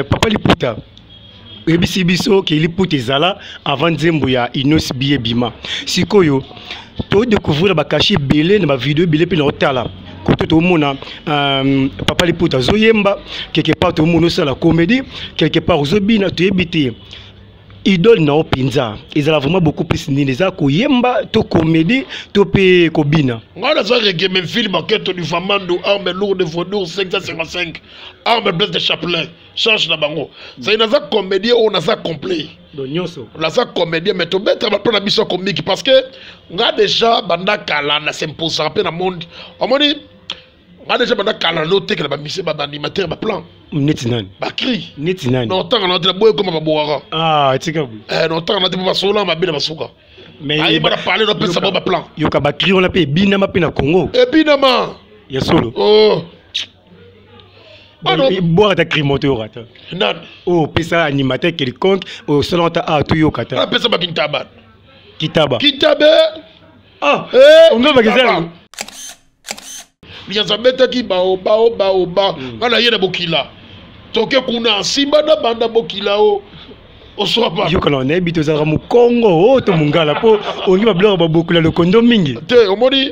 eh, papa liputa oyebisi biso ke liputa ezala avant nzembo ya inos biye bima sikoyo todecouvrir bakashi ebele na bavideo ebele mpe na otala kote tomona euh, papa liputa azoyemba quelque part tomona osala comédie quelque part ozobina toyebi te idole na yo mpenza ezala vraiment beaucoup plus nini eza koyemba to comédie to mpe kobina ngai naza regemefilme aketo du famando arme lourde vodour 555 arme blesse de chaplain change na bango zali naza comédien oyo naza complet nyonso naza comédien mais tobetaka mpo na biso komiki parce que nga déjà banda kala na s'imposaka mpe na monde omoni nga déjà banda kala naotekela bamise baanimateur baplan neti nani bakri neti nani naotanga na tela boye ekoma babowaka ah, etika boye eh, naotanga na te mpo basololaka mabe na basuka ayeba na pale napesa bango baplan yoka bakri wana mpe ebinama mpe na congo ebinama ya solo oh. bwaka ta crimo toyoka ta nani oyo opesa animateur quelconque oyo osala ta a toyoka ta apesa bakintaba kitaba kitabe ah eh, onga bakizala liyanza abetaki baobaobaoba hmm. nga na ye na bokila toke kuna nsimba na banda bokila o yokana nayebi tozalaka mokongo o oh, to mongala mpo ongi babiloko babokula lokondo mingi te omoni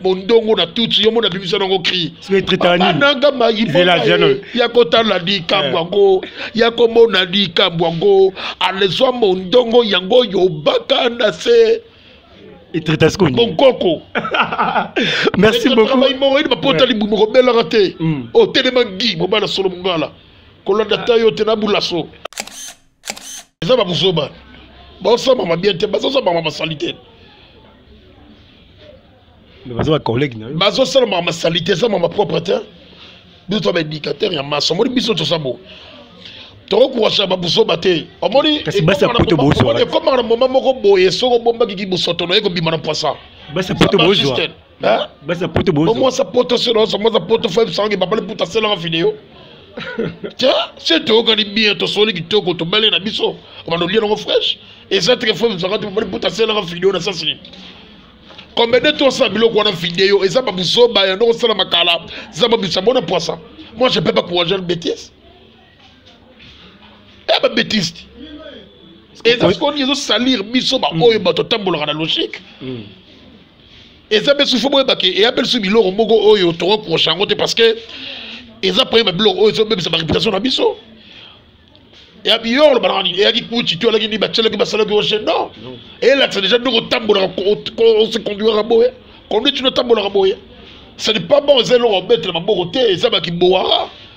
mondongo na tutsi yo mona bimisa nango cri bananga mayibona ya kotala likambo eh. yango ya komona likambo yango alezwa mondongo yango oyo baka na se monkoko merci beaucoup yini bapotali mbuma kobelaka te otelema ngi mobala solo mongala kolanda ta yo te na bulaso eza babuzoba baosambama bien te bazosambama basali te bazosalama masali te eza mama propre te biso toza baédicateur ya maso omoni biso toza bo tokokurasha babuzoba te omoni ekomaka na moma moko boye soki obombaki kibosoto na ye kobima na pwasa basi ya poto bozo omwasa poto selo oso mwasa poto fo ebisango babali puta selanga video tya se toyokani bien tosoli kitoko tobale na biso obanda olia nango fraîche eza teke fo ebisango te babali puta selanga video na sasi nini kombe nde tosala biloko wana video eza babuzoba yango osalama kala eza babisa bona pwasa moi je peux pas courage une bêtise ya eh, babetise ti eza sikoyo nini ezosalire biso baoyo mm. bato atambolaka na logique mm. eza mpe susu boyebake eya mpe lisusu biloko moko oyo tokokosa yango te parce que eza mpe babiloko oyo ezobebisa bareputation na biso ya biyo olobaka nini eyaki kuci to alaki nini batyelaki basalaki oce non elakisa deja ndenge otambolaka ose conduiraka boye conduite no otambolaka boye ce n'est pas bon eza eloko obetela maboko te eza bakibowaka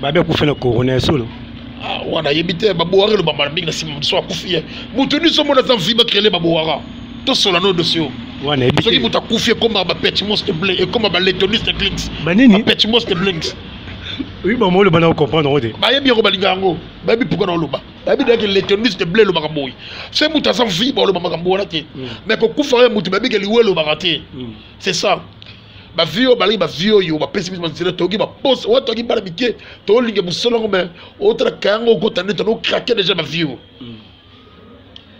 babe akufa na corona ya solo ah, wana ayebi te babowaka eloba mbala mingi na nsima moto so akufi ye moto nyonso omona aza mvi bakrele babowaka tosola no dossier oyo wana yebi soki moto akufi ekomaka bapetchimos de blé ekoma baletonis de clinks banini bapetchimos de blinks oyi bango oloba na okomprendre yango te bayebi yango balinga yango bayebi mpuka na oloba bayebi deke letonis de blé elobaka boye se moto aza vi baoloba makambo wana te mais kokufa ye moto bayebi ke liwa elobaka te c'est ça ba vie oyo balaki ba vie oyo bapesi biso banzela toyoki baposa oyo toyoki bana mike tolinga mosala yango mai otalaka yango okota nde tono krake deja ba vie oyo mm.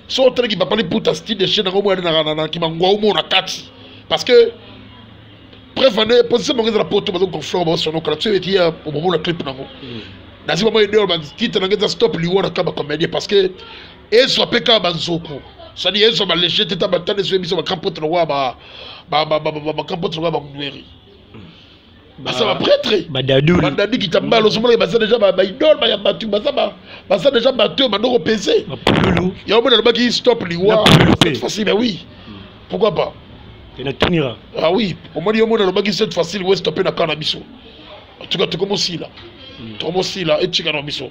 so otalaki papa liputa style de chaine yango moya na kimangua omo na kati parce que preuve ane position bango eza na poto bazo conflore baosonokala biso eti ya omomona clip nango mm. nazwi bango edeo bantite nango eza stop liwa na kaba comédien parce que ezwa mpe kaka banzoku sadi ezwa balege te ta batana ezwa biso bakampote lokola bakampote lokola bamweri baza bapretre badadi kitambala ozomonaki baza deja baidole baya bato baza deja bato oyo bandoko pese yango mona alobaki stop liwa cette fois-ci mais oui pourquoi pas enatunira ah oui omoni yo mona alobaki cette fois-ci liwa estope na kaa na biso en tout cas tokomosila hmm. tokomosila etika na biso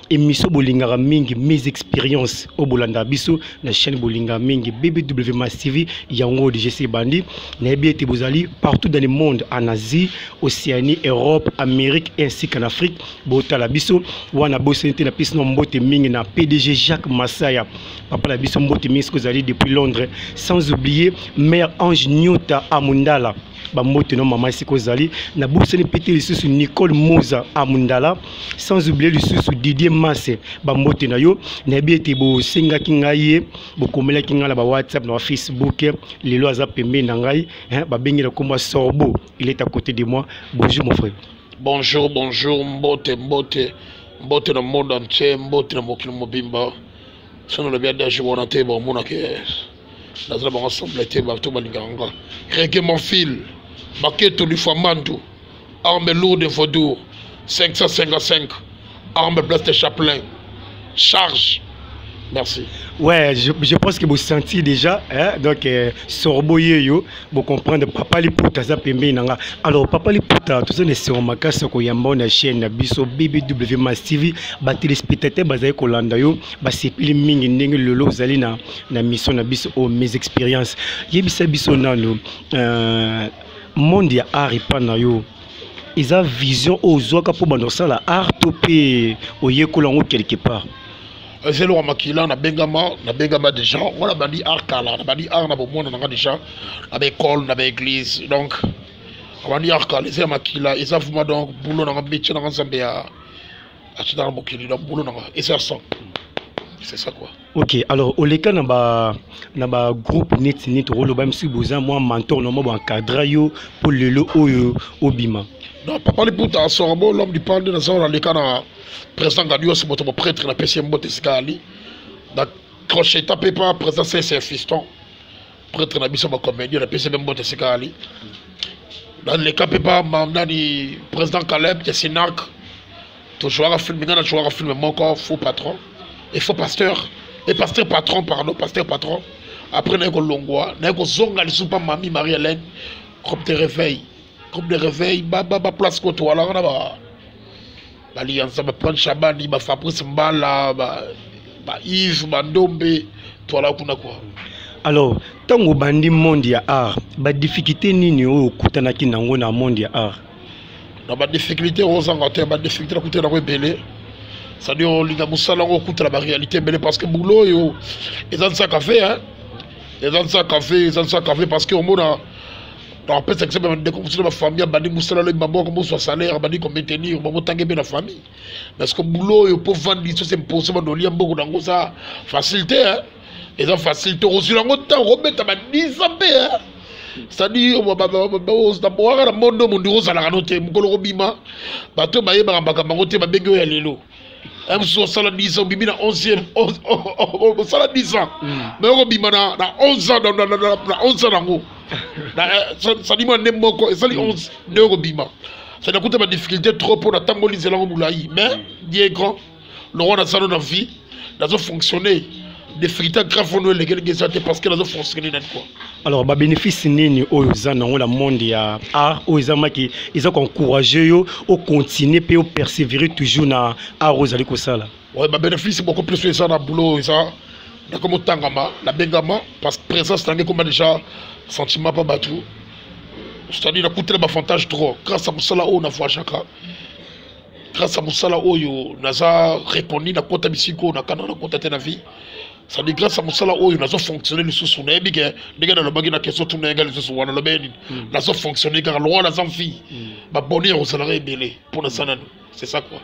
émission bolingaka mingi mes expériences oyo bolandaka biso na chaîne bolingaka mingi bbw mas tv yango oyo dgc ebandi nayebi ete bozali partout dans le monde en asie océanie europe amérique ainsi qu'en afrique botala biso wana bosani te na pesi na mbote mingi na pdg jacques masaya papa na biso mbote mingi soki ozali depuis londres sans oublier mère ange nyota amundala bambote no mama esika ozali nabosani mpe te lisusu nicole moza amundala sans oublie lisusu didier mase bambote na yo nayebi ete bosengaki ngai ye bokomelaki ngai na bawhatsapp na bafacebook lelo aza pembeni na ngai babengela nkombo sorbo il est à côté de moi bonjour mon frère bonjour bonjour mbote mbote mbote na monde entier mbote na mokili mobimba soki nalobi adaje wana te baomonaka naza na bango sombla te bato balingaka nga rege mon fil maketo lifwa mandu arme lourde vaudour 555 arme place de chaplain charge Merci. Ouais, je, je pense que vous sentez déjà, hein, donc euh, sorbo yeyo, vous comprenez, papa liputa za pembe nanga. Alors papa liputa, tout ça ne se remarque ce qu'on y a bon la chaîne na biso BBW Mass TV, ba téléspectateurs bazali kolanda yo, ba sepili mingi ndenge lelo zali na na mission na biso oyo mes expériences yebisa biso nano euh, monde ya art epa na yo eza vision oyo ozwaka mpo banda kosala art to mpe oyekola yango quelque part eza eloko makila nabengama nabengama déjà ngo nabandi art kala nabandi art na bomona nanga déjà na baekole na baeglise donc abandi art kala eza ya makila eza vuma donc bulo nanga métier nanga nzambe ya atinaka mokili donc bulo nanga eza ya sang c'est ça quoi ok alors oleka na ba na ba groupe neti neti okoloba misi boza mwa mentor na mwa boencadra yo mpo lelo oyo obima donc papa liputa sorabo l'homme du pande naza oyo naleka na président gadios moto moprêtre napesi ye mbote esika ali na crocheta mpe pa président cse fiston prêtre na biso bacomédien napesi mpe mbote esika ali naleka mpe pa nani président caleb ya sinac tozwaka filme nga nazwaka filme moko faux patron et faux pasteur et pasteur patron pardon pasteur patron après naye kolongwa naye kozonga lisusu mpa mami marie hélène groupe de réveil groupe de réveil baplace kotowalaka na ba balianza bapane shabani bafabrice mbala baive bandombe twala kuna kua alors ntango obandi monde ya art badifficulté nini oyo okutanaki nango na monde ya art na badifficulté ozanga te badifficulté nakuta yango ebele cestadire olinga mosala yango okutana baréalité ebele parce que boulot oyo eza nsa cafe eza nsa cafe eza nsa cafe parce que omona nakopesa exemple ya bandeko mosusu na bafamille abandi mosala lobi maboko mozwa salaire abandi komaintenir bango tange mpe na famille parce que boulot oyo mpo vandisi ose impose banoli ya mbongo na yango eza facilité eza facile tokozwila yango ntango kobeta ba 10 ans mpe sadi naboaka na mondo mondi ozalaka no te mokolo kobima bato bayebaka makambo yango te babengi oyo ya lelo eh, mosusu osala 10 ans obimi na 11 osala 10 ans me okobima na 11 ans na 11 ans yango sadi mwa nde moko esali 11 nde okobima sadi akuta badifficulté trop mpo na ntango olizelango molai mais die grand lokola naza no na vie nazo fonctionner difficulté grave oyo elekeleki eza te parce que nazo fonctionner nani quoi alors babénéfice nini oyo oza nango na monde ya art oyo ezamaki eza koencourage yo ocontinue mpe opersévere toujours na art oyo ozali kosala ouais, babénéfice beaucoup plus oyo eza na boulot oyo eza nakomi otangama nabengama parce que présence nange ekoma déjà sentiment mpa bato c'est-à-dire nakutela bafantage trop grâce ya mosala oyo na voyagaka grâce à mosala oyo naza reconnu na kota bisika oyo nakana na kota te na vie sadi grâce à mosala oyo nazo fonctionne lisusu nayebi ke ndenge nalobaki na question tuna yanga lisusu wana nalobaki nini hmm. nazo fonctionne kaka longo naza mfi hmm. baboni ya kozalaka ebele mpo naza nanu c'est ça quoi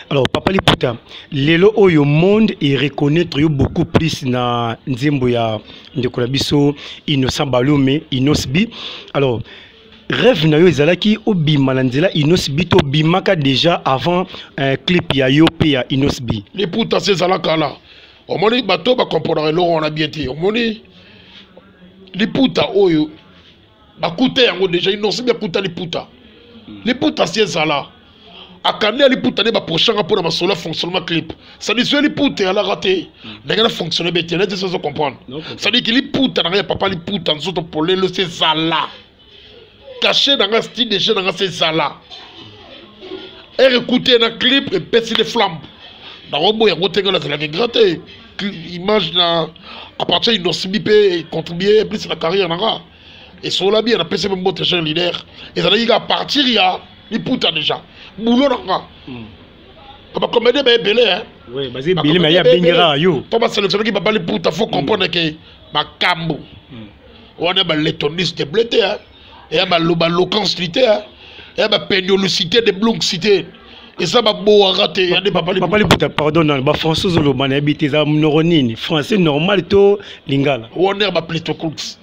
alors papa liputa lelo oyo monde e reconnaître yo beaucoup plus na nzembo ya ndeko na biso innocent balome inosbi alors rêve na yo ezalaki obima na nzela inosbi to obimaka déjà avant euh, clip ya yo mpe ya inosbi liputa se ezala kala omoni bato oyo bakomponaka eloko wana bien te omoni liputa oyo bakuta yango déjà inosbi akuta liputa liputa se ezala akande aliputa nde baprochanga mpo na masolo ya fonctionnement clip sadi soki liputa eyalaka te ndenge na fonctionne be te neti sozo comprendre sadi ki liputa na ngai ya papa liputa nzoto polelo se ezala kashe na ngai style de jeu na ngai se ezala ere ekute na clip epesi le flambe nakoboya yango te ngai nazalaki grand te image na à partir ya inosibi mpe contribue plus na carrière na ngai esola bien napesi mpe mbote jean leader ezalaki kaka partir ya liputa déjà bulo na nga hmm. bakomede baebele to baselectionnaki baba liputa faut comprendre ke makambo hmm. wana baletonise de ble te eya baloba locanceli te eya bapendiolucité de bloncité eza babowaka te yande papa liputa pardon na bafrançais ozoloba nayebi te eza monoko nini français normal to lingala wana ya bapletocours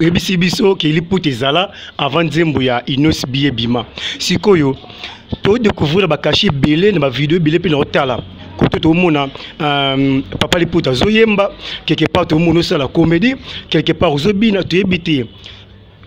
oyebisi biso ke liputa ezala avant nzembo ya inos biye bima sikoyo todécouvrir bakashi ebele na bavideo ebele mpe na otala kote tomona euh, papa liputa azoyemba quelque part tomona osala comédie quelque part ozobina toyebi te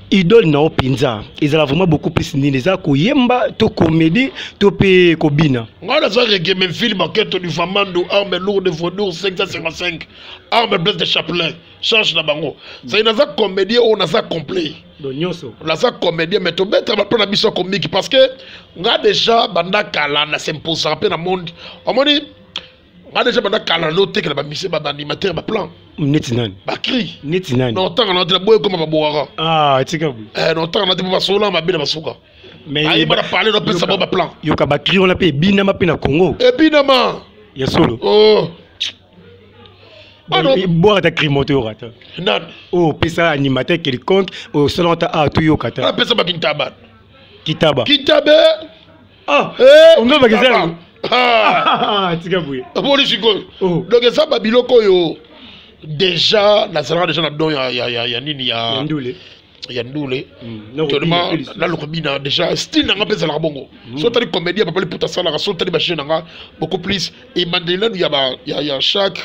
idole na yo mpenza ezala vraiment beaucoup plus nini eza koyemba to comédie to mpe kobina ngai naza regemefilme aketo du famandu arme lourde vaudour 555 arme place de chapelet charge na bango c'est naza comédien oyo naza complet nyonso naza comédien mais tobeta bato na biso komiki parce que nga déjà banda kala na s'imposaka mpe na monde omoni nga déjà banda kala naotekela bamise baanimateur baplan neti nani bakri neti nani notanga nati na boye ekoma babowaka ah, etika boye eh, notanga nati mpo basola mabe na basuka ayeba na pale nopesa bango baplan yoka bakri wana mpe ebinama mpe na congo ebinama ya solo oh. bwaka ta crimo toyoka ta nani oyo opesa animateur quelconque oyo osalaka ta awa toyoka ta apesa bakintaba kitaba kitabe ah, eh, onga bakizala ah. ah, tika boye omoni sikoyo oh. donc eza babiloko oyo déjà nazalaka déjà na don ya, ya, ya, ya nini ya, ya ndule ya ndule mm, tellement naluka bina déjà style nanga mpe ezalaka bongo mm. so otali comédie ya papa liputa asalaka so otali bajeu nanga beaucoup plus ebandeli nanu ya chaque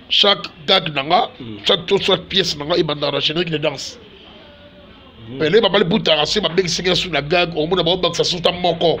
chaque gag nanga mm. chaque to soit pièce nanga ebandaka na générique de danse pele papa liputa kasi babekisaki na su na gag omona baobakisa suta moko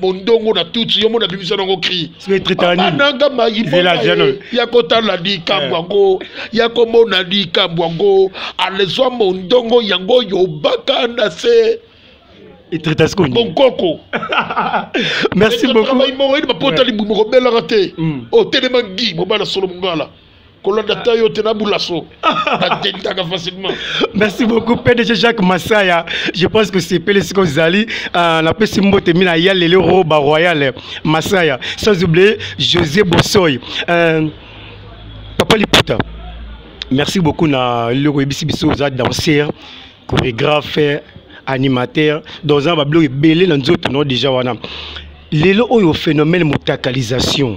mondongo na tutsi yo mona bimisa nango cri bananga mayibonga ya kotala likambo eh. yango ya komona likambo yango alezwa mondongo yango oyo baka na se monkoko merci beaucoup moko yini bapotali mokobelaka te otelema ngi mobala solo mongala kolanda ta yo te nabulaso nadendaka facilement merci beaucoup pdg jacques masaya je pense que sepele sika ozali euh, napesi mbote mina ya lelo roba royal masaya sans oublier josé bosoy euh, papa liputa merci beaucoup na eloko oyebisi biso oza danseur chorégraphe animateur donc oza na babiloko ebele na nzoto no déjà wana lelo oyo phénomène motakalisation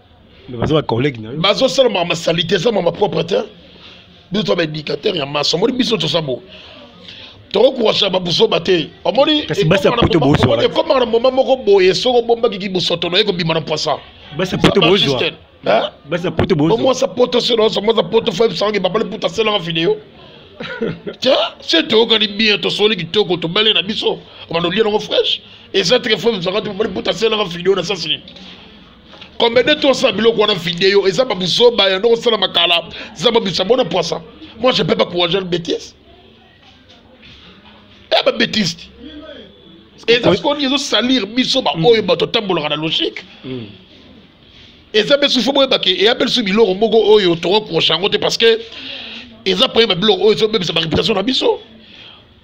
baza ba collègue na yo bazo sala ma ma salite ça ma propre terre biso to ba éducateur ya maso moni biso to sabo toko kuwasha ba buso ba te omoni kasi basi ya poto bozo wala comme na moment moko boye soko bomba ki buso to na ko bima na poisa basi ya poto bozo hein basi ya poto bozo moi sa poto se no moi sa poto fa sangi ba bale puta sela video tiens c'est toi qui bien to soli ki toko to bale na biso on a lié dans fraîche et ça très fort ça quand tu bale puta sela video na ça c'est kombede tosala biloko wana video eza babuzoba yando kosala makala eza babisa bona poisa moi je peux pas pour agir bêtise ya babétise ti eza sikoni ezosalire biso baoyo bato atambolaka na logique hmm. eza mpe susu fo boyebake eya mpe lisusu biloko moko oyo tokoki kokosa yango te parce que eza mpe babiloko oyo ezobebisa bareputation na biso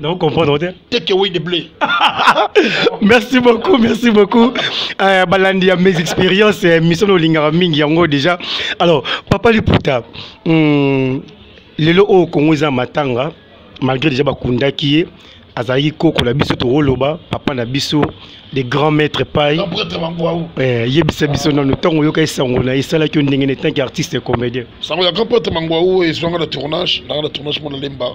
Non, comprendre te. Take away the blé. merci beaucoup, merci beaucoup. Euh, balandi ya mes expériences, euh, mission olingaka mingi yango déjà. Alors, papa Liputa, hmm, lelo oyo Congo eza matanga, malgré déjà bakundaki ye, azalaki koko na biso tokoloba papa na biso de grand maître pai eh, yebisa biso nano ntango oyoka esango na esalaki yo ndenge na etanke artiste comédien sango ya grand prêtre mangwau ezwanga na tournage nanga na tournage mona lemba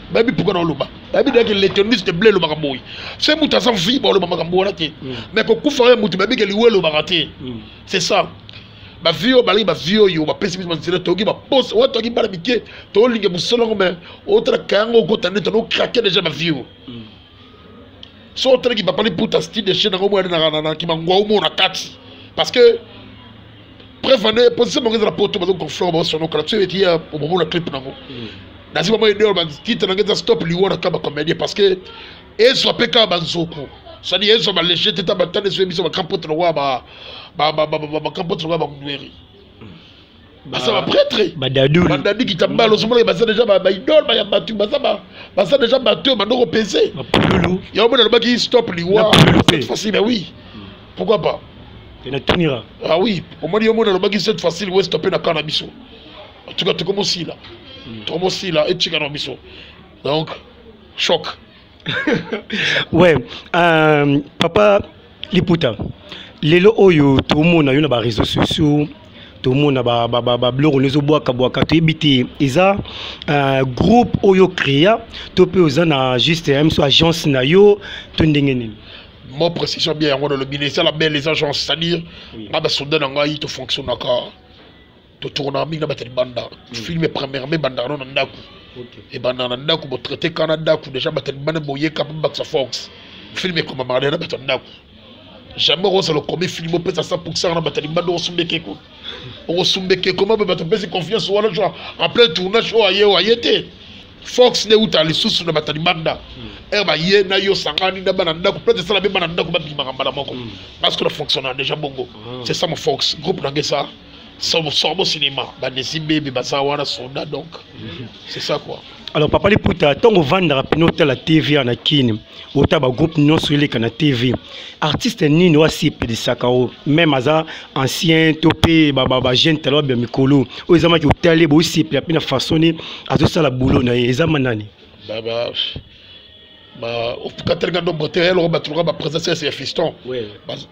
bayebi mpoka na oloba bayebi deke letoniste ble elobaka boye se moto aza vi baoloba makambo wana te mm. mais kokufa oyo moto bayebi ke liwa elobaka te mm. c'est ça bavi oyo balingi bavi oyo bapesi biso banzela toyoki baposa oyo toyoki bana mike tolinge mosolo yango mai otala kayango okota nde tana okrake deja bavi oyo so oteleki papa liputa style de chaine yango boya na kimangua omona kati parce que preuve ane position bango ezala poto bazo conflore bango sono kala soki etiya omomona clip nango hmm. nazwi bango edeo batitre nango eza stop liwa na kaba comédien parce que ezwa mpe kaka banzoku sadi ezwa balege te ta batane ezoyebisa bakampote lokola bakampote lokola bamweri baza bapretre badadi kitambala ozomona baza deja baidole baya bato baza baza deja bato oyo bandoko pese yango mona alobaki stop liwa cette fois-ci mais oui pourquoi pas enatunira ah oui omoni yo mona alobaki cette fois-ci liwa estope na kana biso en tout cas tokomosila hmm. tokomosila etikana biso donc choc ouais euh, papa liputa lelo oyo tomona yo na bareseau sociaux tomona babiloko nde ezobwakabwaka toyebi te eza euh, groupe oyo créa to mpe oza na juste euh, mso agence na yo to ndenge nini mo précision bien yango nalobi na eza la belle les agences c'est-à-dire nga basoldat na ngai tofonctionnaka totokonaka mingi na bato ya libanda hmm. filme premièrement ebandaka no na ndako ebandaka na ndako botraite ka na ndako déjà bato ya libanda boyeka mpe bakisa fox filme ekomamaka deja na bato ya ndako jamais okosala okomi filme opesa 100 pourcent na bato ya libanda okosumbeke ko okosumbeke koma mpe bato opesi confiance wana jo en plein tournage oyo aye oyo aye te fox nde euta lisusu na bato ya libanda ere hmm. baye na yo sangani na bana ndako peut esala mpe bana ndako babimaka mbala moko hmm. parce que na fonctionnaka déjà bongo ah. c'est ça mo fox groupe nange sa sorbo cinéma banesi bebe baza wana soda donc c'est ça quoi alors papa liputa ntango ovandaka mpena otala tv ya na kini ota bagroupe nyonso eleka na tv artiste nini oyo asipelisaka o meme aza ancien to mpe bajeune tala babya mikolo oyo ezamaki otali boosepela mpe na façon ni azosala boulot na ye ezama nani baba katali nga ndombo te eloko batuluka bapresence ya fiston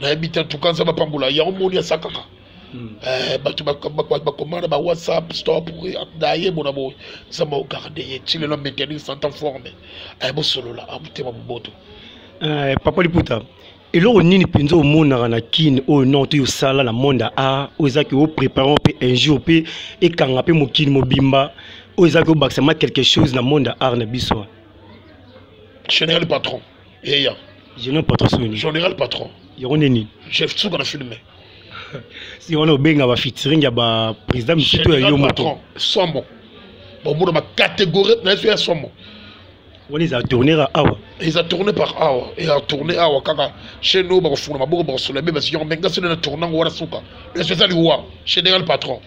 nayebi te tuka nzambe apambola yango moni asa kaka hmm. eh, bato bakoma na bawhatsapp stop naye mona boye nzambe ogarde ye ti lelo maintenir santa forme eh, bosolola amotema ah, moboto eh, papa liputa eloko nini mpenza omonaka na kine oyo non toyo osala na monde ya art oyo ezaki oprépare mpe un jour mpe ekanga mpe mokili mobimba oyo ezaki obakisama quelque chose na monde ya art na biso general patron eya général patron soki nini général patron yango nde nini chef suka na filme si wana obenga ba featuring ya ba président misusu to ya yo moto somo bomona ba catégorie na yesu ya somo wana eza tourne ka awa eza tourne par awa eza tourne awa kaka chez nous bakofungola maboko bakosola be basiyo me ngasi nde na tourne yango wana suka yesu eza liwa général patron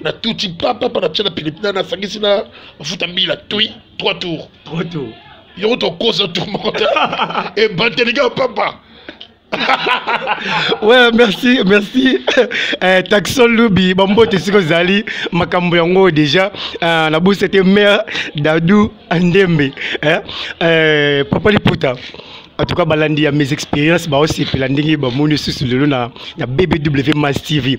na tuti papa pa natia na pilipili nasangisi na mafuta mbila tui trois tours trois tours yoko tokosa tour moko te ebatelika papa ouais merci merci eh, taxon lubi bambote siko ezali makambo yango déjà eh, nabusi ete mare dadou andembe eh, eh, papa liputa en tout cas balandi ya mes expériences baosepela ndenge bamoni lisusu lelo na, na bbw mas tv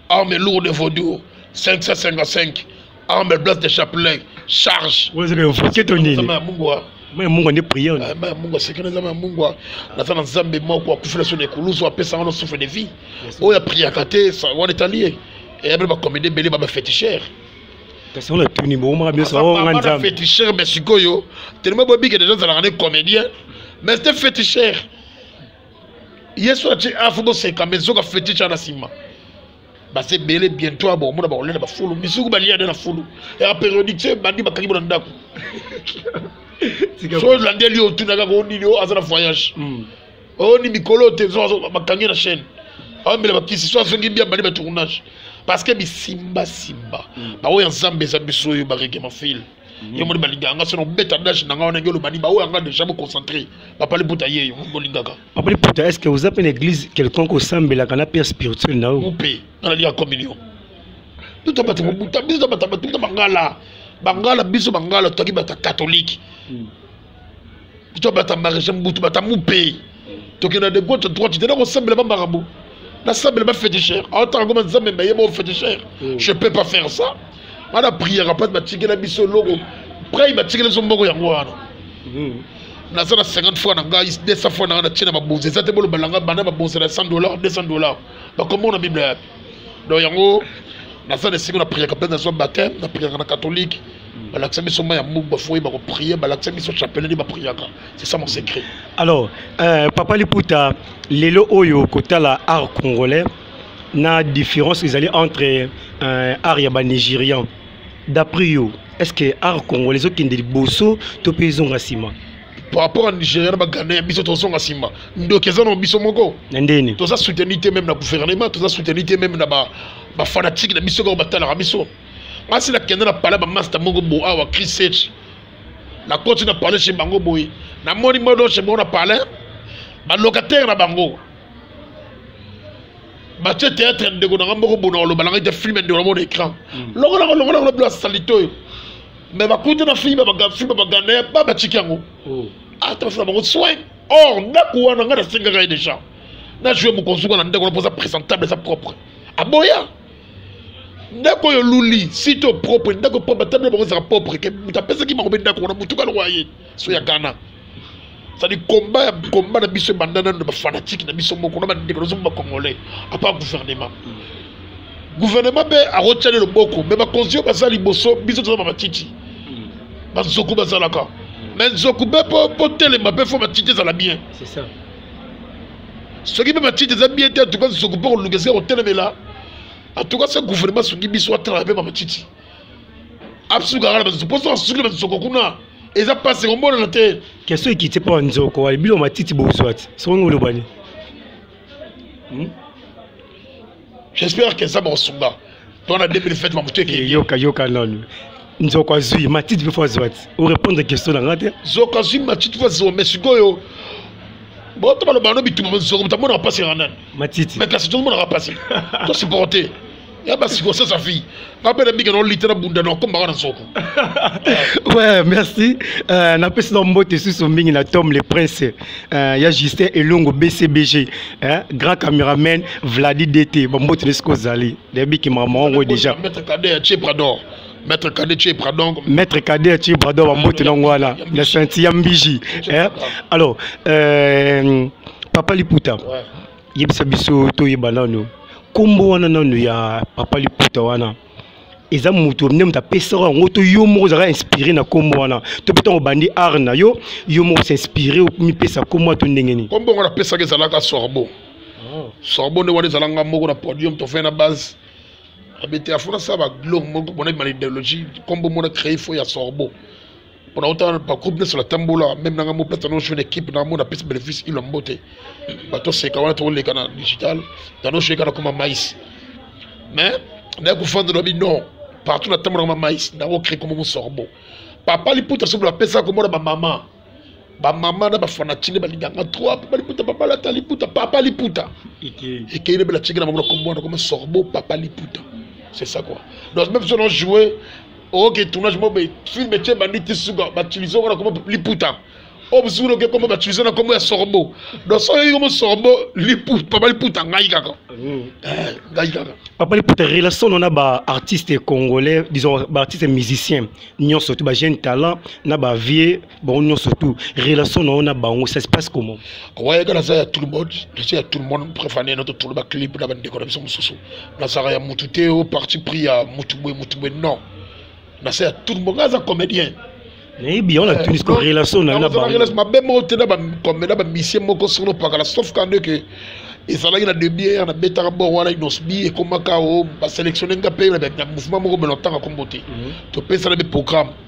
arme lourde de vaudou 555 arme blas de chapelet charge maya mungwa nde priere ah, maya mungwa sekele eza maya mungwa naza na nzambe moko akufela so na ekulusu apesa wana souffle de vie oyo apriaka te wana etali ye eyabele bakomede ebele babafetichere kasi wana tuni bokomaka biso oh, nga nzambe fetichere mais sikoyo telema bobike deja ozalaka ne comédien mais te fetichere yesu atie afu boseka me zoka fetiche ana nsima baza ebele bientôt abomona bakolia na bafulu misuku balia nde na fulu ya periodique se bandi bakangi bona ndako so olandeli otuna kaka o nini o aza na voyage hmm. o ni mikolo te bakangi na chaîne aombela bakisi so azongi bia bandi batournage parce que bisimbasimba hmm. baoyo ya nzambe eza biso oyo baregema file yo moni balingaka nga sono beta dash na nga wana nge olobani baoyo yanga deja boconcentre papa liputa yeyo bolingaka papa liputa est ce que oza mpe na église quelconque osambelaka na père spirituel na yo mpe nga naliya communion biso tabata biso tabata bangala bangala biso bangala totaki bata katolike hmm. to bata maréchal mobutu bata mupe tokenda de gauche droite tena kosambela ba makambo nasambela ba féticheur aotaka ngoma nzambe mayeba o féticheur mm. je peux pas faire ça bana priere pati batikela biso eloko prai batikela biso mbongo yango wana mm. naza na 50 fois na ngai 200 fois na ngai natie na babonzi eza te boloba na ngai banda babonzi na 100 dollar 200 dollar bakomona biblia yapi donc yango naza na esiko na priaka mpe nazwa bateme na priaka na katholike balakisa biso mai ya mbuku bafoye bakoprie balakisa biso chapeleli bapriaka c'est ça mon secret alors euh, papa liputa lelo oyo kotala art congolais na différence ezali entre euh, art ya banigérian d'après yo est ce que art congolais ezokende liboso to mpe ezonga nsima par rapport à nigeria na baghanais biso tozonga nsima ndoki eza na biso moko na ndeni toza souteni te meme na gouvernement toza souteni te meme na bafanatique na biso kaka batalaka biso ba asi nakenda na pale ba masta moko bo awa christ nakoti na pale chez bango boye namoni modo chez bango na pale balocataire na bango batie théâtre ndeko nanga moko bona oloba nanga ete filme ndeko namona écran mm. longola longola ngo bila salite oyo mais bakuti na filme filme baganda ba batiki yango oh. ata basala bango soin or ndako wana ngai nasengaka ye déjà na joue mokonzi wana ndeko na mpoza présentable eza propre aboya ndako oyo luli site oyo propre ndako propre ata bino bango ezalaka propre ke moto apesaki bango mpe ndako wana motu kani oyo aye so ya ghana sadi komba ya komba na biso ebanda nano na bafanatike na biso moko na bandeko na biso moko bacongolais apart gouvernement gouvernement mpe akotyani loboko me bakonzi oyo baza liboso biso toza bamatiti banzoku bazalaka me nzoku mpe mpo telema mpe fo matiti ezala bien soki mpe matiti eza bien te atuka nzoku mpe koluka esika kotelemela atuka se gouvernement soki biso atalaka mpe bamatiti asukaka na banzoko mposo asuki na banzoko kuna eza mpasi komonana te keso ekiti mpo banzoko wali bino matiti bozwa te soki ngo olobani hmm? j'espère que nzambe akosunga twana 2007 makambo to ekei yoka yoka nanu nzoko azwi matiti mpe fo azwa ti orépondre question na nga te nzoko azwi matiti fo azwa mais sikoyo boto baloba no bituma nzoko moto amonaka mpasi yaka nani matiti mais kasi tozomonaka mpasi tosupporte ya basiko sasa fille abela mingi na olite na bunda na okombaka na soko ouais merci euh, napesi na mbote susu mingi na tom le prince euh, ya justin elongo bcbg hein? grand cameraman vladi dt bambote nesiko ozali nayebiki makambo yango déjà maître kade ya cheprador maître kade chepra donc maître kade ya chepra donc bambote na yango wana na senti ya mbiji alors euh, papa liputa ouais. yebisa biso toyeba nano nkombo wana nano ya papa liputa wana eza moto nde moto apesaka yango to yo moko ozalaka inspiré na nkombo wana to mpe ntango obandi art na yo yo moko osinspiré omipesa nkombo wana to ndenge nini nkombo yango napesaka ezalaka sorbo ah. sorbo nde wana ezalanga moko na podium tofai na base abete afona sa baglo moko mona bima na idéologie nkombo mona créé fo ya sorbo pona ota bacour nyonso natambola meme nanga mo place nano jeune équipe nanga mona pesi bénéfice ilo mbote bato seka wana tokoleka na digital nano jeune kana koma mais mais naye kofanda lobi non partout natambolaka ma mais nako créer komo mosorbo papa liputa soki bapesaka komona bamama bamama na bafanati nde balinganga trop mpo baliputa papa lata liputa papa liputa ekei nde belatikela bango na kombo wana koma sorbo papa liputa c'est ça quoi donc même si on a joué oyoki tournage moko boye film etye bandi ti suka bautilize yango na kombo liputa oyo mosusu loke kombo bautilize na kombo ya sorbo donc soki oyoki kombo sorbo papa liputa ngai kaka mm. eh, ngai kaka papa liputa relation no na baartiste congolais disons baartiste musicien nyonso to bajeune talent na bavieux bango nyonso tout relation na yo na bango ça se passe comment wayeka naza ya tout le monde naza ya tout le monde préfane na totolo baclip na bandeko na biso mosusu nazalaka ya motu te o parti pris ya motu boye motu boye non naza ya tout le monde ngai aza comédien nayebi yango na eh, tunis ko relation na yo na bango mabe moko te na bacomédien bamisie moko solo opakala sauf kande ke ezalaki na debiere na betaka bor wana inosbi ekomaka o oh, baselectionne nga mpe na mouvement moko belotanga kombo te mhm. topesana mpe programme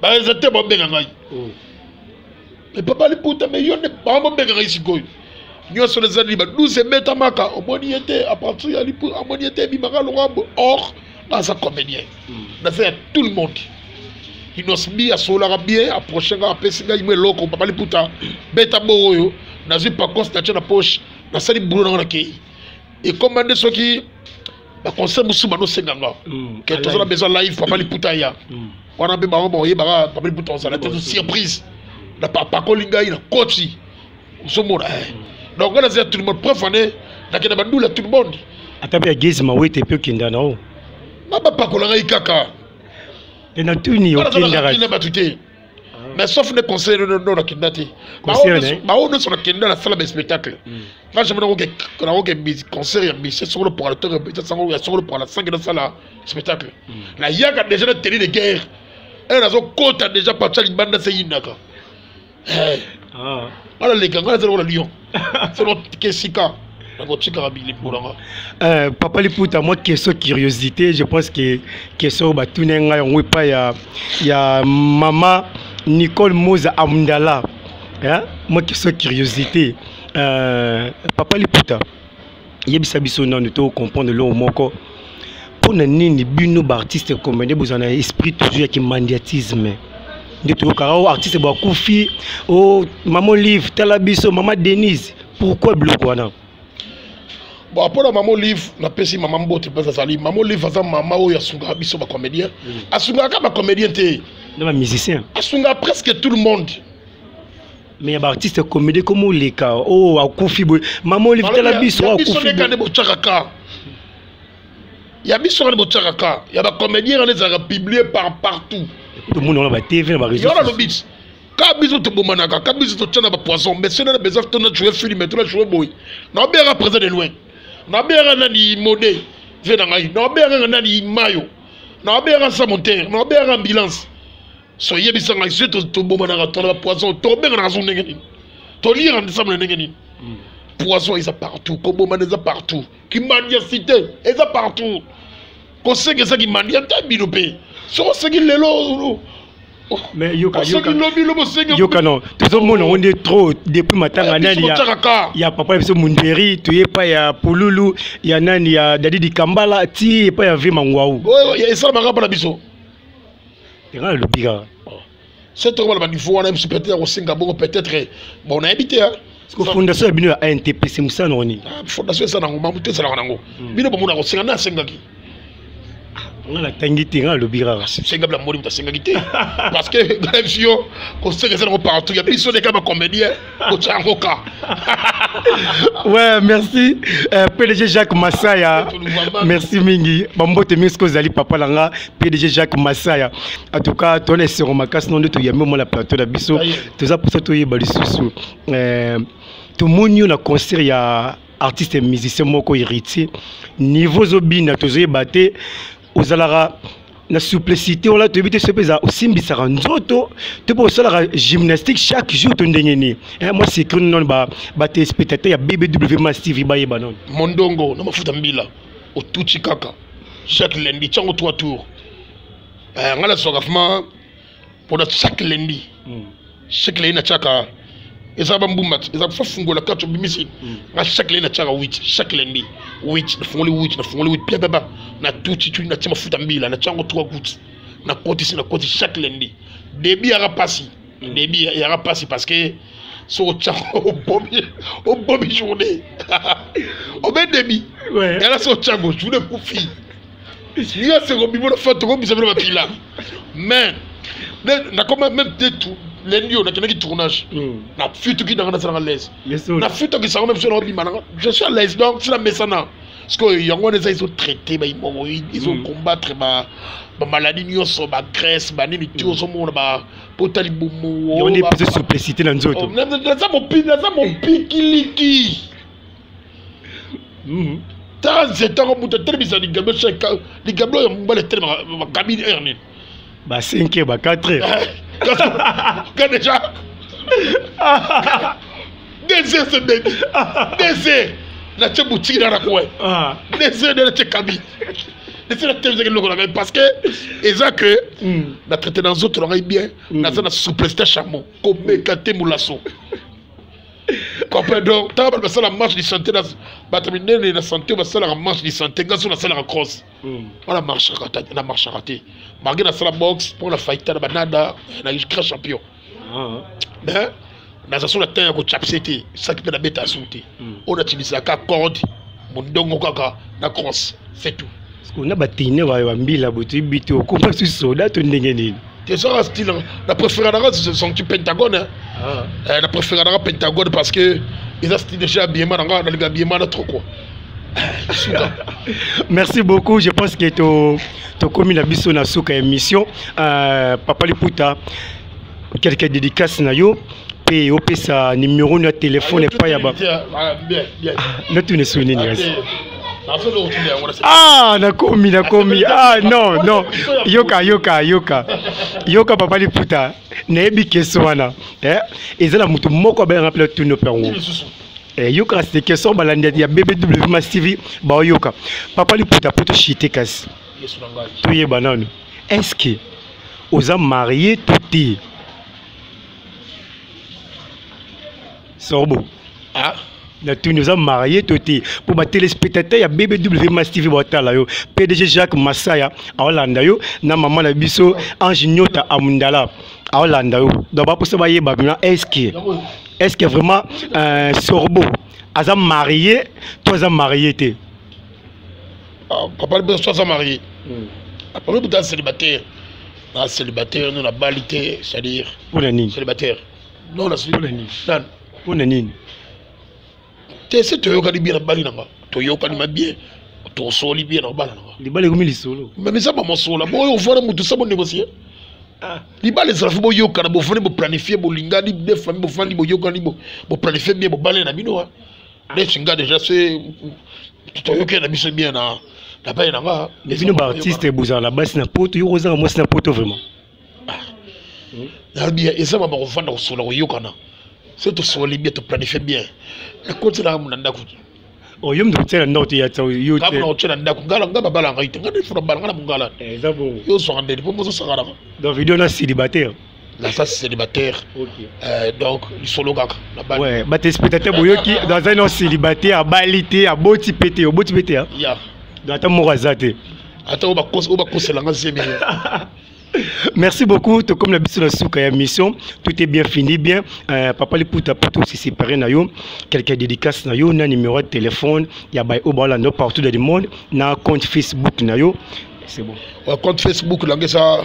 baeza te babenga ngai oh. me papa liputa me yo nde bango babenga ngai sikoyo nyonso na ezali ba 12 ebetamaka omoni ye te apartir ya lipu amoni ye te ebimaka lokambo or naza comédien hmm. naza ya tout le monde inosbi asololaka bien approche ngai apesi ngai mo eloko papa liputa beta bongo oyo nazwi paconse natya na poche nasali bulo nango nakei ekoma nde soki ba conseil musu bano senga nga mm, que tozo na besoin live papa liputa ya mm. wana pe bango boye baka papa liputa on sala toujours surprise na papa ko linga ina koti so mona eh. mm. donc là c'est tout le monde preuve année na kena bandula tout le monde ata pe gezi mawete pe kinda na o baba pakola ngai kaka pe na tuni okindaka mais sauf ne conseil no no nakenda te baoyo nyonso nakenda nasala baspectacle nga jamai nakoke concert ya misie soko lopoka na ntongo ya sango ya soko lopoka na sangi nasala spectacle nayaka déjà na teni de guerre ere nazokota déjà pacha libanda se yinaka nga naleka nga nazali kola lion sono tike esika nakotikaka bilembo na nga euh, papa liputa mwa question curiosité je pense que question oyo batuni ngai yango epai ya, ya mama nicole moza amdala mwa question curiosité euh, papa liputa yebisa biso nanu to comprendre eloko moko mpo na nini bino baartiste comédien bozala na esprit toujours ya kimandiatisme nde toyokaka o oh, artiste bakufi o oh, mama olive tala biso mama denise pourquoi biloko wana bon mpo na mama olive napesi mama mbote mpenza azali mama olive aza mama oyo asungaka biso bacomédien mm. asungaka kaka bacomédien te na bamusicien asungaka presque tout le monde mais ya baartiste comédie koma oleka o oh, akufi boye mama olive tala biso oh, akufibokande botyaka ka ya biso kande botyaka ka ya bacomédien kande ezalaka publie par partout tomoni wana batv na bareseona lobiti ka biso tobomanaka ka biso totya na bapoison mais sena na besoin tona joue filme tona joue boye naobeyaka présent de loin naobeyaka nani mode vie na ngai naobeyaka nga nani mayo naobeyaka sa motere naobeyaka ambulance so yebisa ngai soki tobomanaka tona bapoison tobenganaka zo ndenge nini toliyaka nsambo na ndenge nini hmm. poison eza partout kobomana eza partout kimandia cité eza partout kosenga eza kimandia nta bino mpe soki osengi lelo mais yoka yoka yoka non tozomona yango nde trop depuis matanga nani ya, ya papa na biso munderi toye epai ya pululu ya nani ya dadidi kambala ti epai ya vi mangwau esalamaka mpo na biso nga alobi kaka se toko baloba niveau wana biso peut-être ya kosenga bongo peut-être bon nayebi te fondation ya bino ya antp se mosala nango nini ah, fondation eza nango mamu te ezalaka nango hmm. bino bomona kosenga nde asengaki ah, nga natangi te nga alobi kaka ah, senga bila moli moto asengaki te parce que yo kosenga eza nango partout ya biso nde kaka bacomédien kotya yango ka ouais merci euh, pdg jacques masaya merci mingi bambote mingi soki ozali papa na nga pdg jacques masaya en tout cas tona esengo makasi no nde toyambi omona plateau na biso toza mposa toyeba lisusu euh, tomoni yo na concert ya artiste musicien moko héritier niveau ozobina tozoyeba te ozalaka na souplicité wana toyebi te soki eza osimbisaka nzoto to mpe osalaka gymnastique chaque jour to ndenge nini eh, mwa secret nono batelespectateur ya bbw mas tv bayeba nono mondongo na mafuta mbila otuti kaka chaque lundi ntango 3 tour eh, ngai nazwaka vraimen mpona chaque lundi mm. chaque lundi natiaka eza bambumba eza kofa fungola kati obimisi mm. nga chaque lundi natiaka wit chaque lundi wit nafungoli wit nafungoli wit piababa na tuti tuti natia mafuta mbila natia yango trois goutte nakotisi nakotisi chaque lundi debi yaka mpasi mm. debi yaka mpasi parce que soki otya obomi obomi journée obe debi yala soki otyango journée kufi ya seko bibo na fatu kobisa bino bakila mais nakoma même te tout lendi oyo nakendaki tournage hmm. na futuki nanga nasalaka laise na futuki sango na biso na obima nanga je suis à l'aise donc sila mesana sikoyo yango wana eza ezotraite baimomoid ezocombattre hmm. bamaladi nyonso bagrèce banini ti hmm. ozomona ba potali bomonaza oh, mopikiliki Mhm. tala nse ntango moto atelemisa ligambo ligambo oyo mobali etelema bakabili heure nini ba 5 heure ba 4 heure ka déjà deux heures se dedi deux heures natye butiki na nakowe ah. deux heures nde natye kabi esi natelemisa eloko na ngai parce que eza que hmm. na traite na nzoto na ngai bien hmm. naza na souplesite ya chamo komeka te molaso comprend donc ntango bato basala marche de santé na bato minene na santé basalaka marche de santé ngai so nasalaka cross wana hmm. na marchaka te marge nasala box mpo na faita na banada na grand champion ah. mais naza so na temps ya kocapse te saki mpe nabeta su te oyo natilisaka corde mondongo kaka na cross c'est tout na batine bayo bambila boto yebi te okoma su soda to ndenge nini ezaka style na préféra nanga sonki pentagone na ah. eh, préféra nanga pentagone parce que eza style déjà abiema nanga nalingi abiema na trop quoi merci beaucoup je pense que tokomi na biso na suka émission euh, papa liputa quelque dédicace na yo mpe opesa nimero na telefone epai ya ba natuna esoki nini kasi ah nakomi nakomi ah non non yoka yoka yoka yoka papa liputa nayebi keso wana eh, eza na moto moko abayanga mpe natuni mpe yango eh, yoka kasi te keso balandi ya bbw masivi baoyoka papa liputa mpo toshite kasi yesu na ngai toyeba nanu est ce que oza marie to te sorbo ah? natuni oza marie to te mpo batelespectateur ya bbw mas tv batala yo pdg jacques masaya aolanda yo na mama na biso ange nyota amundala aolanda yo donc baposa bayeba bino est ce que est ce que vraiment euh, sorbo aza marie to aza marie te ah, papa liboso soza marie hmm. apres lobi ta célibataire na célibataire no nabali te c'est-à-dire mpona nini célibataire non mpona nini mpona nini te se toyokani bien nabali nanga toyokani ma bien tosoli bien na kobala nanga libala ekomi lisolo meme eza bamosola boyo ovanda motu sa bonegocie ah. libala ezala fo boyokana bofandi boplanifie bolingani de famille bofandi boyokani boplanifie bien bobale na bino wa neti nga deja se toyokela biso bien na na bai na nga mais bino baartiste bozala na basi na poto yo kozanga mwasi na poto vraiment ah. nalobi eza mama kovanda kosola koyokana se tosoli bien toplanifie bien nakotelaka mona ndako Oh, yo mtu tena ndio tia tsa yo te kama tena ndio kungala ngaba bala ngai te ngani fura bala ngana mungala eh, eza bo yo so ngande po mozo sangara donc video na célibataire naza célibataire okay. euh, donc lisolo kaka ouais, batespectateur boyoki aza no célibataire abali te aboti mpe te oboti mpe te yeah. donc ata moko aza te ata oyo bakosela nga zemi Merci beaucoup. Tout comme la bisous souka ya mission, tout est bien fini bien. Euh, papa les puta puto si séparé na yo, quelqu'un dédicace na yo, na numéro de téléphone, ya bay obala no partout dans le monde, na compte Facebook na yo. C'est bon. Ouais, compte Facebook là ça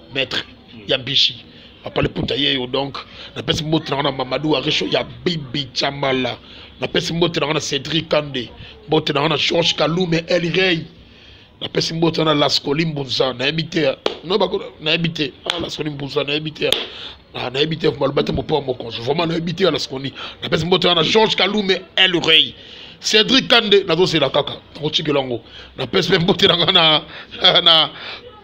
maître ya bishi papa liputa ye yo donc napesi mbote na nga na mamadou arisho ya bibi chamala napesi mbote na nga na cédric kande mbote na nga na george kalume elrey napesi mbote na nga na lascoli mbunza nayebi te nayebi te ah, lascoli mbunza nayebi te Ah, nayebi te maloba te mopao mokonzi vraiment nayebi te na sikoni napesi mboto wana george kalume el rey cédric kande nazozela kaka nakotikela yango napesi mpe mbote nanga na, na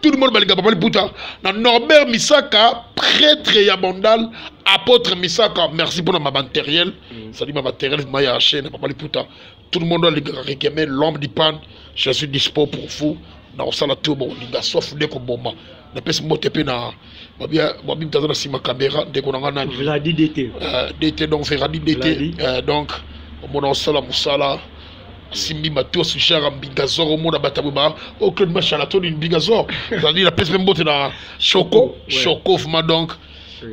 tout le monde balinga papa liputa na norbert misaka prêtre ya bandal apôtre misaka merci mpona mabateriel mm. sali mabateriel ma ya chaine papa liputa tout le monde alingaka kekeme l'homme du pan je suis dispo pour vous nakosala to bokolinga sauf nde koboma napesi mbote mpe na babi mtaza na nsima caméra ndeko na ngai nani vladi dt euh, dt donc feradi dt euh, donc omona osala mosala asimbi matos jara mbingazor omona batabwe ba o oh, claude mashala toni mbingazor ezali napesi mpe mbote na choco choco vraiment donc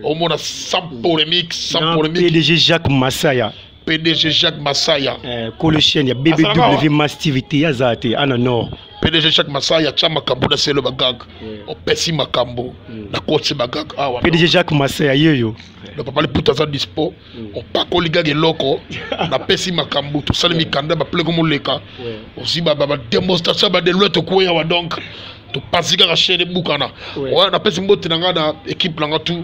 omona sans polémique sans polémique pdg jacques masaya pdg jacques masaya eh, kolo chaine ya bbw mas tv te aza te ana nord pdg jacques masaya atya makambo na selo bagag eh. opesi makambo mm. na koti bagag awa ah, pdg jacques masaya yeyo le papa liputa aza dispo mm. opakoli gag eloko napesi makambo tosali mikanda bapeleko moleka ozwi bademonstration badeluete okueya wa donc topasi kaka chaine ebukana wana napesi mbote na ngai na ekipe na ngai tu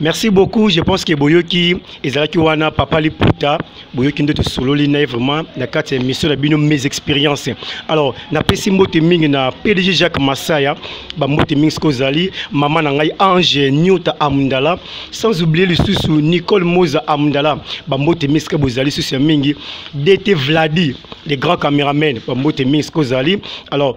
merci beaucoup je pense que boyoki ezalaki wana papa liputa boyoki nde tosololi na ye vraiment na kati ya émission na bino mes expérience alors napesi mbote mingi na pdg jacques masaya bambote mingi soki ozali mama na ngai ange niota amndala sans oublier lisusu nicole moza amndala bambote mingi soki bozali lisusu ya mingi dt vladi le grand cameraman bambote mingi soki ozali alors